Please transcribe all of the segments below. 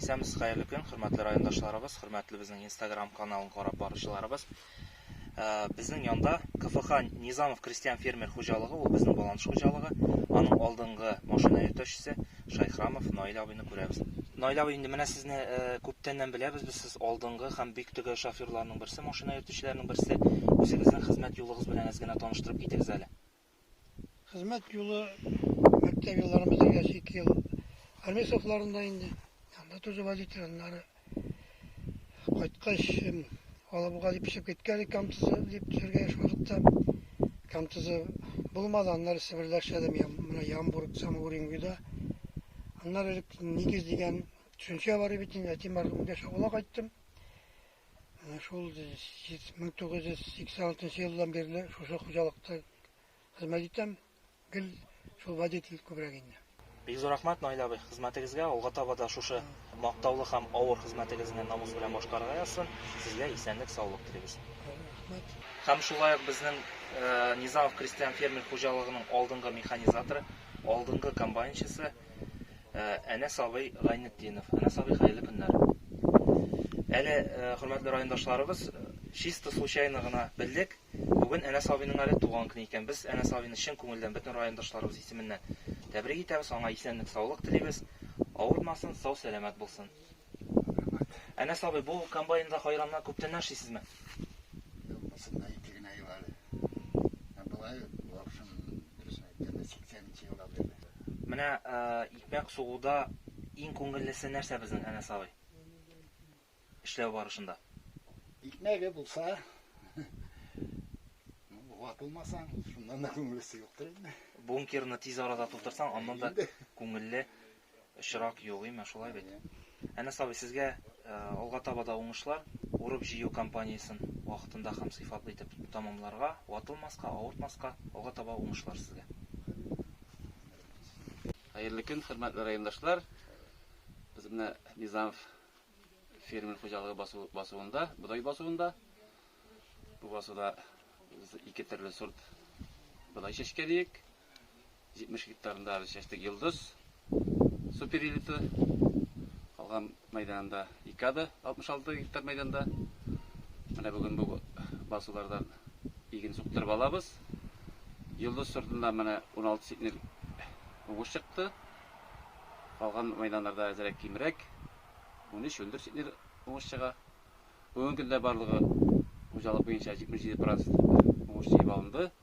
Исәмсез хәерле көн, хөрмәтле райондашларыбыз, хөрмәтле безнең Instagram каналын карап баручыларыбыз. Ә, безнең янда КФХ Низамов крестьян фермер хуҗалыгы, ул безнең баланс хуҗалыгы. Аның алдынгы машина йөртүчесе Шайхрамов Наил абыйны күрәбез. Наил абый, инде менә сезне ә, күптәннән беләбез без, сез алдынгы һәм бик төгәл шоферларның берсе, машина йөртүчеләрнең берсе. Үзегезнең хезмәт юлыгыз белән әз генә таныштырып китегез әле. Хезмәт юлы мәктәп еллары бетергәч ике ел армия сафларында инде. Анда тоже водитель, аннары кайткач Алабуга дип төшеп киткән идек, Камтызы дип төшергә еш вакытта. Камтызы булмады, аннары Себердә эшләдем, я, менә Ямбург, Самоуренгида. Аннары элек Нигез дигән төшенчә бар бит инде, әти мәрхүмгә чагыла кайттым. Менә шул 1986 елдан бирле шушы хуҗалыкта хезмәт итәм. Гел шул водитель күбрәк инде. Бик зур рәхмәт, Наил абый, хезмәтегезгә, алга таба да шушы мактаулы һәм авыр хезмәтегезне намус белән башкарырга язсын. Сезгә исәнлек, саулык телибез. Рәхмәт. Һәм шулай ук безнең Низамов крестьян-фермер хуҗалыгының алдынгы механизаторы, алдынгы комбайнчысы, Э, Әнәс абый Гайнетдинов. Әнәс абый, хәерле көннәр. Әле, э, хөрмәтле райондашларыбыз, э, чисто случайно гына белдек. Бүген Әнәс абыйның әле туган көне икән. Без Әнәс абыйны чын күңелдән бөтен райондашларыбыз исеменнән тәбрик итәбез. Аңа исәнлек, саулык телибез. Авырмасын, сау-сәламәт булсын. Әнәс абый, бу комбайнда кайраннар күптән нәршисезме? Менә икмәк сугуда иң күңеллесе нәрсә безнең, Әнәс абый? Эшләү барышында. Икмәге булса, ватылмасаң, шуннан да күңеллесе юктыр инде. Бункерны тиз арада тутырсаң, аннан да күңелле очрак юк, име, шулай бит? Әнәс абый, сезгә алга таба да уңышлар, урып-җыю кампаниясен вакытында һәм сыйфатлы итеп тәмамларга, ватылмаска, авыртмаска, алга таба уңышлар сезгә! Хәерле көн, хөрмәтле райондашлар! Без менә Низамов фермер хуҗалыгы басу басуында, бодай басуында. Бу басуда без ике төрле сорт бодай чәчкәлиек. 70 гектарында без чәчтек Йолдыз суперэлита. Калган мәйданында Икада 66 гектар мәйданда. Менә бүген бу басулардан иген суктырып алабыз. Йолдыз сортында менә 16 ситнер уңыш чыкты. Калган мәйданнарда әзерәк кимрәк 13-14 ситнер уңыш чыга. Бүгенге көндә барлыгы хуҗалык буенча 77% уңыш җыеп алынды.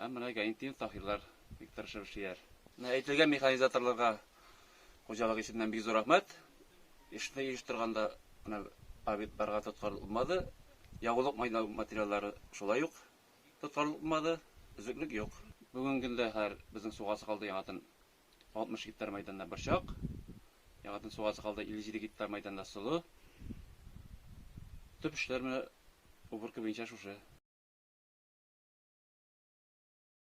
Һәм менә Гаинтдин Таһирлар бик тырышып эшлиләр. Менә әйтелгән механизаторларга хуҗалык исеменнән бик зур рәхмәт. Эшне оештырганда менә объектларга тоткарланмады, ягулык материаллары шулай ук тоткарланмады, өзеклек юк. Бүгенге көндә хәзер безнең сугасы калды яңадан 60 гектар мәйданда борчак, яңадан суга сыгалды 57 гектар мәйданда солы. Төп эшләр менә уборка буенча шушы.